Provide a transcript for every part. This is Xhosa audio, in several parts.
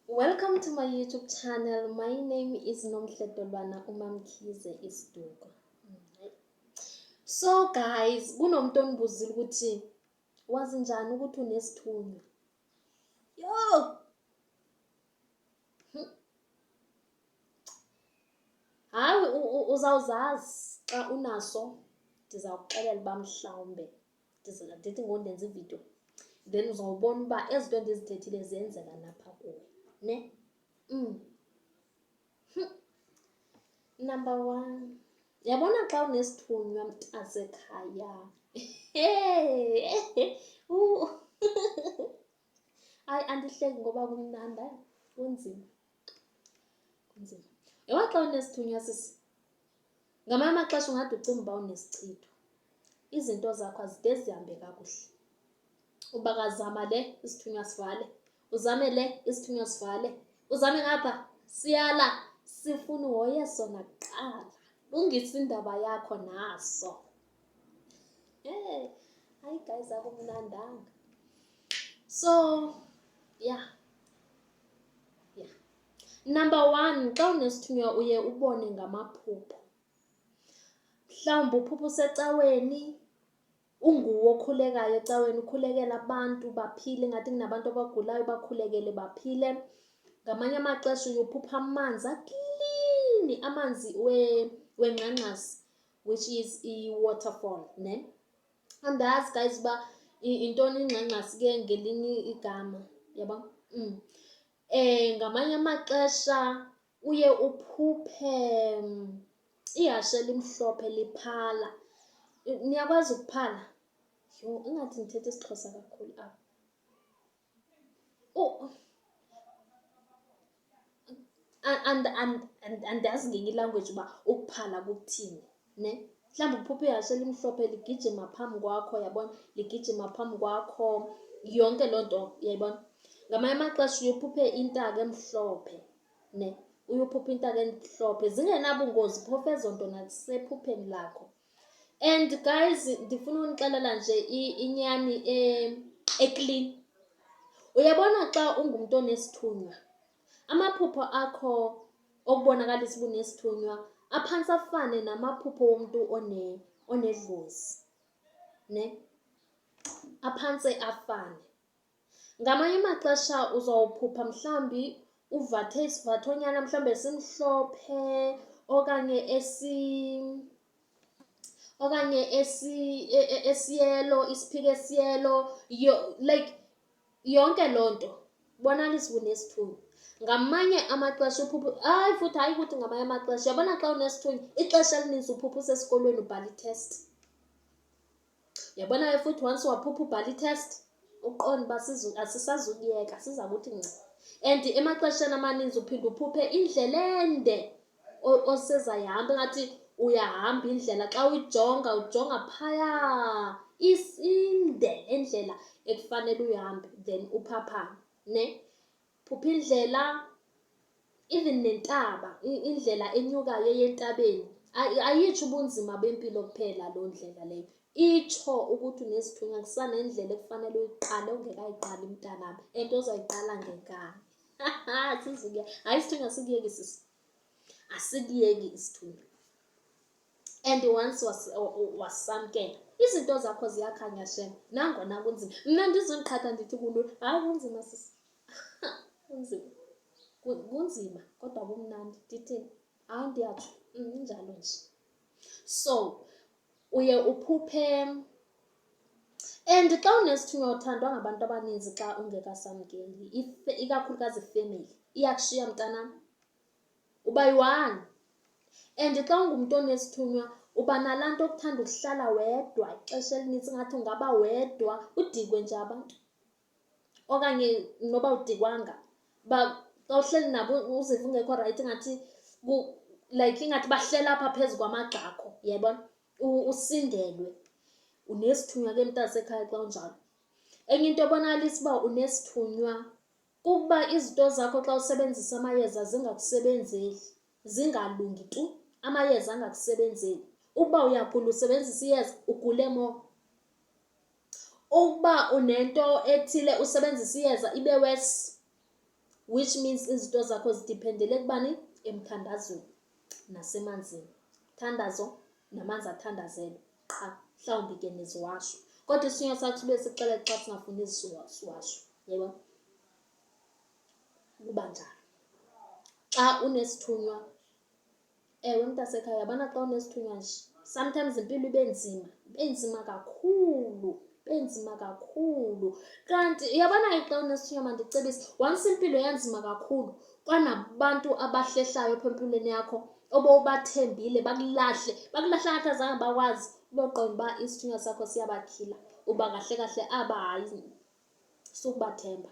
Welcome to my YouTube channel. My name is Nomhle Dolwana uMamkhize Isiduko. So guys, kunomuntu onibuzile ukuthi wazi njani ukuthi unesithunywa. Yo! Hayi uzawuzazi xa unaso ndizawuxelela uba mhlawumbe ndithi ngoku ndenza ividiyo then uzawubona uba ezi nto ndizithethile ziyenzeka napha kuwe ne mm. Hm. number one yabona xa unesithunywa mntasekhaya hayi andihleki ngoba kumnanda kunzima kunzima yaba xa unesithunywa sisi ngamanye amaxesha ungade ucinga uba unesichitho izinto zakho azide zihambe kakuhle uba kazama le isithunywa sivale uzame le isithunywa sivale uzame ngapha siyala sifuna uhoye sona kuqala lungisa indaba yakho naso hey hayi guys akumnandanga so yeah Number one, xa unesithunywa uye ubone ngamaphupha. Mhlawumbi uphupha usecaweni, unguwe okhulekayo ecaweni ukhulekela abantu baphile, ingathi kunabantu abagulayo bakhulekele baphile. Ngamanye amaxesha uye uphupha amanzi aklini, amanzi wengxangxasi, which is i-waterfall ne. Andazi guys uba yintoni ingxangxasi ke ngelinye igama, yabo. Ngamanye amaxesha uye uphuphe ihashe elimhlophe liphala. Niyakwazi ukuphala? Yho, ingathi ndithetha isiXhosa kakhulu apha. Andazi ngenye ilangweji uba ukuphala kuthini. Ne? Mhlawumbi kuphupha ihashe elimhlophe ligijima phambi kwakho, yabona, ligijima phambi kwakho, yonke loo nto, uyayibona. Ngamanye amaxesha uye uphuphe intaka emhlophe, ne? Uye uphuphe intaka emhlophe, zingenabungozi phofu ezo nto nakusephupheni lakho. And guys, ndifuna unixelela nje inyani e-clean. Uyabona xa ungumntu onesithunywa, Amaphupho akho okubonakalisa uba unesithunywa aphantsi afane namaphupho womntu onedlozi ne aphantse afane. Ngamanye amaxesha uzawuphupha mhlawumbi uvathe isivathonyana mhlawumbi esimhlophe okanye esi okanye esi e, e, esiyelo isiphika esiyelo like Yonke loo nto bonalis unesithunywa. Ngamanye amaxesha uphupha, hayi futhi hayi ukuthi ngamanye amaxesha. Uyabona xa unesithunywa ixesha elininzi uphupha usesikolweni ubhala i-test. Uyabona ke futhi once waphupha ubhala i-test uqonde uba asisazukuyeka siza kuthi nca. And emaxesheni amaninzi uphinde uphuphe indlela ende osezayo ihamba ingathi uyahamba indlela. Xa uyijonga ujonga phaya inde le ndlela ekufanele uyihambe then uphaphame ne. Phupha indlela even nentaba, indlela enyukayo eya entabeni. Ayitsho ubunzima bempilo kuphela loo ndlela leyo, itsho ukuthi unezithunywa kusanendlela ekufanele uyiqale ongekayiqali mntanam and ozayiqala ngenkani. sizike hayi isithunywa asikuyeki sisi asikuyeki isithunywa and once wasamkela izinto zakho ziyakhanya shem nangona kunzima mna ndizoqhatha ndithi kulula hayi kunzima sisi kunzima kunzima kodwa kumnandi ndithini hayi ndiyatsho injalo mm, nje So uye uphuphe and xa unesithunywa uthandwa ngabantu abaninzi xa ungekasamkeli ikakhulukazi ifemeli iyakushiya mntanam uba yi-one and xa ungumntu onesithunywa uba nalaa nto okuthanda ukuhlala wedwa ixesha elinintsi ngathi ungaba wedwa udikwe nje abantu okanye noba udikwanga uba xa uhleli nabo uziva ungekho rayithi ingathi like ingathi bahlela apha phezu kwamagxa akho yayibona usindelwe unesithunywa ke mntasekhaya xa unjalo enye into ebonakalisa uba unesithunywa kukuba izinto zakho xa usebenzisa amayeza zingakusebenzeli zingalungi tu amayeza angakusebenzeli ukuba uyagula usebenzisa iyeza ugule mo Ukuba unento ethile usebenzisa iyeza ibe worse which means izinto zakho zidiphendele ekubani? Emthandazweni nasemanzini. Thandazo namanzi athandazelwe qha, mhlawumbi ke neziwasho. Kodwa isinywa sakho sibe sixele xa singafuni iziwasho, yebo? Kuba njalo. Xa unesithunywa Ewe, mntasekhaya yabona xa unesithunywa nje sometimes impilo ibe nzima, ibe nzima kakhulu, ibe nzima kakhulu. Kanti uyabona ke xa unesithunywa mandicebise, once impilo yanzima kakhulu kwanabantu abahlehlayo apha empilweni yakho obowubathembile bakulahle, bakulahle ngathi azange bakwazi, uboqonda uba isithunywa sakho siyabatyhila. Uba kahle kahle aba hayi. sukubathemba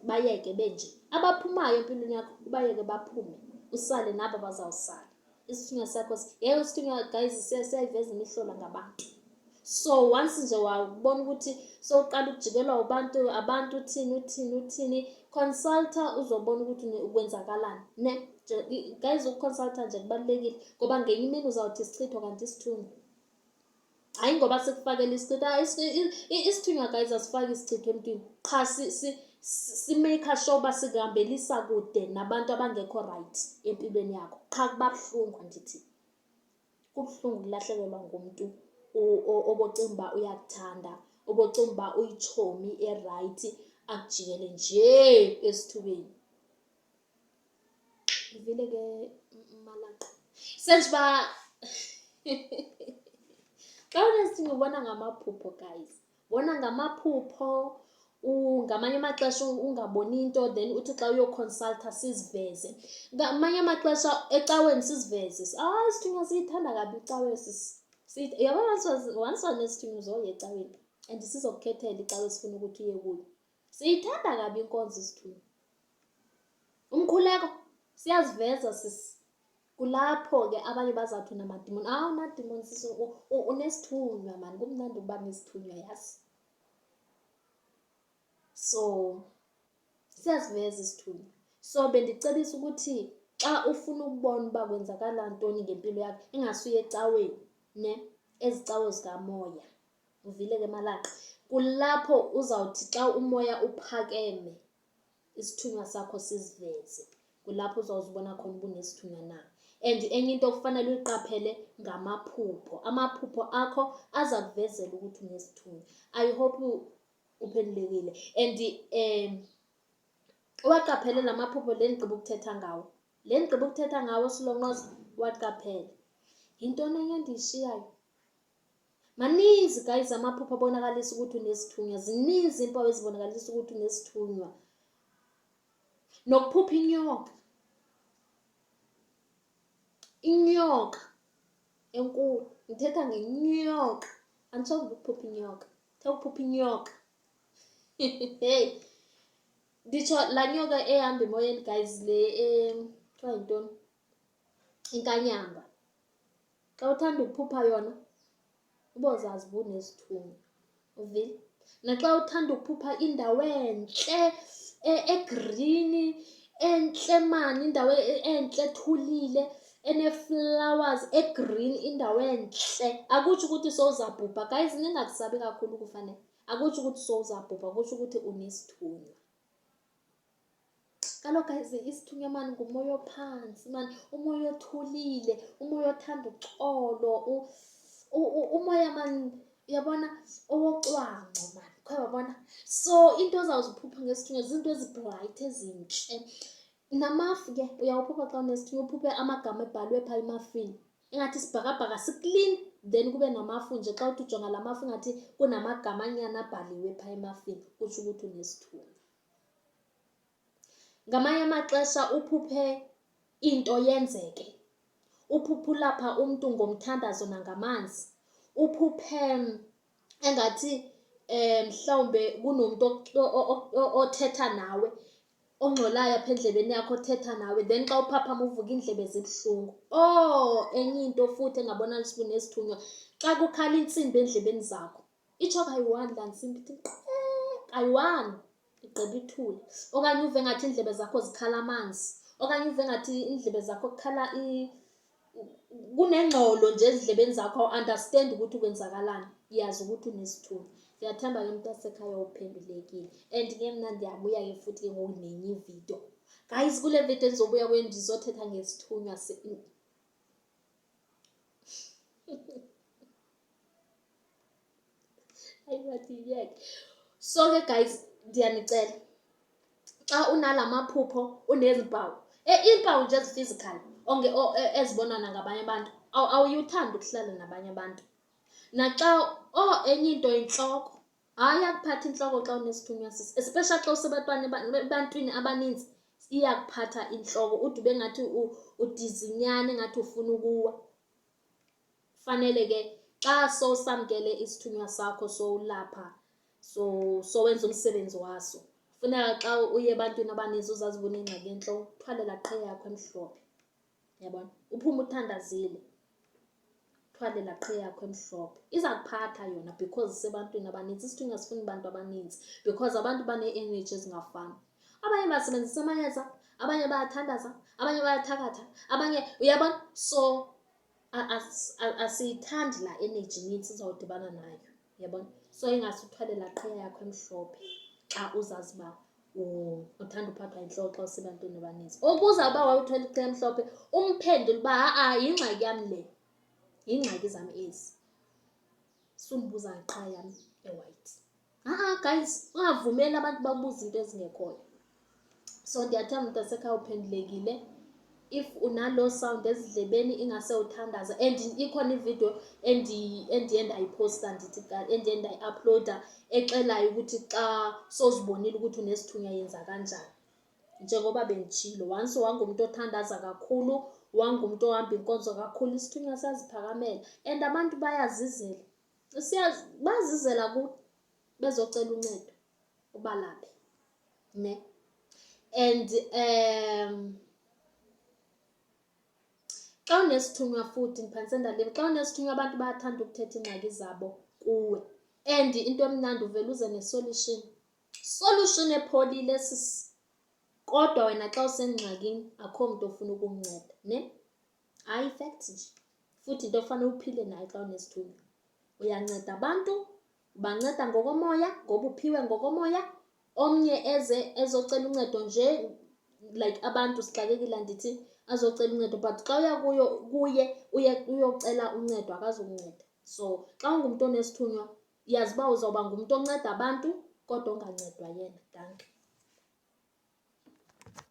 bayeke benje abaphumayo empilweni yakho ubayeke baphume usale nabo bazawusala isithunywa sakho ngeke usithunywa guys siyayiveza imihlola ngabantu so once nje wabona ukuthi sowuqala ukujikelwa ubantu abantu uthini uthini uthini consulta uzobona ukuthi ukwenzakalani ne guys ukuconsulta nje kubalulekile ngoba ngenye imini uzawuthi isichitho kanti isithunywa hayi ngoba sikufakela isichitho ah, isithunywa guys asifaki isichitho emntwini qha simake sure uba sikuhambelisa kude nabantu abangekho rayithi empilweni yakho qha kuba buhlungu andithi kubuhlungu ukulahlekelwa ngumntu obocinga uba uyakuthanda obocinga uba uyitshomi erayithi akujikele njee esithubeni ndivile ke malaqa senje uba xa unesinto ubona ngamaphupho guys bona ngamaphupho ngamanye amaxesha ungaboni into then uthi xa uyoconsulta siziveze ngamanye amaxesha ecaweni siziveze ah isithunywa siyithanda kabi icawe yabona once wanesithunywa uzoye ecaweni and sizokukhethela icawe esifuna ukuthi uye kuyo Siyithanda kabi inkonzo isithunywa. Umkhuleko siyaziveza sisi. Kulapho ke abanye bazawuthi unamadimoni. Awu unadimoni sisi unesithunywa mani kumnandi ukuba nesithunywa yazi. So siyaziveza isithunywa. So bendicebisa ukuthi xa ufuna ukubona uba kwenzakala ntoni ngempilo yakho ingasuye ecaweni ne ezicawe zikamoya. uvile ke malaqa kulapho uzawuthi xa umoya uphakeme isithunywa sakho siziveze kulapho uzawuzibona khona uba unesithunywa na and enye into okufanele uyiqaphele ngamaphupho amaphupho akho aza kuvezela ukuthi unesithunywa i hope uphendulekile and um uwaqaphele la maphupho le ndigqiba ukuthetha ngawo le ndigqiba ukuthetha ngawo silonqoza uwaqaphele yintoni enye endiyishiyayo maninzi guys amaphupha abonakalisa ukuthi unesithunywa zininzi iimpawu ezibonakalisa ukuthi unesithunywa nokuphupha inyoka inyoka enkulu ngithetha ngenyoka andisonge ukuphupha inyoka thetha ukuphupha inyoka hey nditsho laa nyoka ehamba emoyeni guys le um kuthiwa yintoni inkanyamba. Xa uthanda ukuphupha yona ubozazi uba unesithunywa, uvile? Naxa uthanda ukuphupha indawo entle egrini, entle maan, indawo entle ethulile ene-flowers e-green, indawo entle. Akutsho ukuthi sowuzabhubha, guys ningakusabi kakhulu ukufa neh. Akutsho ukuthi sowuzabhubha kutsho ukuthi unesithunywa. kaloku isithunywa mani ngumoya ophantsi mani umoya othulile umoya othanda uxolo umoya mani uyabona owocwangco mani khe wabona so into ozawuziphupha ngesithunywa ziinto ezibhrayithi ezintle namafu ke uyawuphupha xa unesithunywa uphuphe amagama ebhalwe phaa emafini ingathi isibhakabhaka siklin then kube namafu nje xa uthi ujonga la mafu ingathi kunamagama anyana abhaliwe phaa emafini kutsho ukuthi unesithunywa Ngamanye amaxesha uphuphe into yenzeke, uphuphe ulapha umntu ngomthandazo nangamanzi, uphuphe engathi um mhlawumbe kunomntu othetha nawe ongxolayo apha endlebeni yakho othetha nawe then xa uphaphama uvuka iindlebe zibuhlungu. Or enye into futhi engabonakala uba unesithunywa, xa kukhala intsimbi eendlebeni zakho itsho kayi-one laa ntsimbi ithi kayi-one igqiba ithule okanye uve ngathi iindlebe zakho zikhala amanzi okanye uve ngathi iindlebe zakho kukhala kunengxolo nje ezindlebeni zakho awuandastendi ukuthi ukwenzakalani yazi ukuthi unesithuba ndiyathemba ke mntasekhaya uphendulekile and ke mna ndiyabuya ke futhi ke ngoku nenye ividiyo guys kule vidiyo endizobuya kweni ndizothetha ngesithunywa so ke guys ndiyanicela xa unala maphupho unezi mpawu e, iimpawu nje ezi-physical e, ezibonwa nangabanye abantu awuyuthandi ukuhlala nabanye abantu naxa o oh, enye into yintloko hayi yakuphatha intloko xa unesithunywa sisi especially xa usebantwana ebantwini abaninzi iyakuphatha intloko ude ube ngathi udizinyana engathi ufuna ukuwa Fanele ke xa sowusamkele isithunywa sakho sowulapha so sowenza umsebenzi waso funeka xa uye ebantwini abaninzi uzazi uba unengxaki entlo uthwalela qhe yakho emhlophe yabona uphume uthandazile thwalela qhe yakho emhlophe iza kuphatha yona because isebantwini abaninzi isithunywa sifuna abantu abaninzi because abantu banee-energy ezingafani abanye basebenzisa amayeza abanye bayathandaza abanye bayathakatha abanye uyabona so asiyithandi laa energy inintsi uzawudibana nayo yabona so ingase uthwale laa qhiya yakho emhlophe xa uzazi uba uthanda uphathwa yintloko xa usebantwini abaninzi ukuza uba wawuthwela iqhiya emhlophe umphendule uba ha-a yingxaki yam le yingxaki zam ezi sundibuza ngeqhiya yam ewayithi Ha-a guys, ungavumeli abantu babuze into ezingekhoyo. So ndiyathanda mntasekhaya uphendulekile. If unaloo sound ezidlebeni ingase uthandaza and ikhona ividiyo endiye ndayiphosta ndithi endiye ndayiaphloda exelayo ukuthi xa sozibonile ukuthi unesithunywa yenza kanjani. Njengoba benditshilo, once wangumntu othandaza kakhulu, wangumntu ohamba inkonzo kakhulu, isithunywa saziphakamela and abantu bayazizela. siyazi bazizela ku bezocela uncedo ubalaphi ne and um xa unesithunywa futhi ndiphantse ndaliva xa unesithunywa abantu bayathanda ukuthetha iingxaki zabo kuwe and into emnandi uvele uze nesolution solution epholile sisi kodwa wena xa usengxakini akho mntu ofuna ukunceda ne Hayi fact nje. Futhi into ofanele uphile nayo xa unesithunywa. Uyanceda abantu, ubanceda ngokomoya ngoba uphiwe ngokomoya. Omnye eze ezocela uncedo nje like abantu sixakekile andithi, azocela uncedo but xa uya kuyo kuye uye uyocela uncedo akazukunceda. So xa ungumntu onesithunywa yazi uba uzawuba ngumntu onceda abantu kodwa ongancedwa yena. Dankie.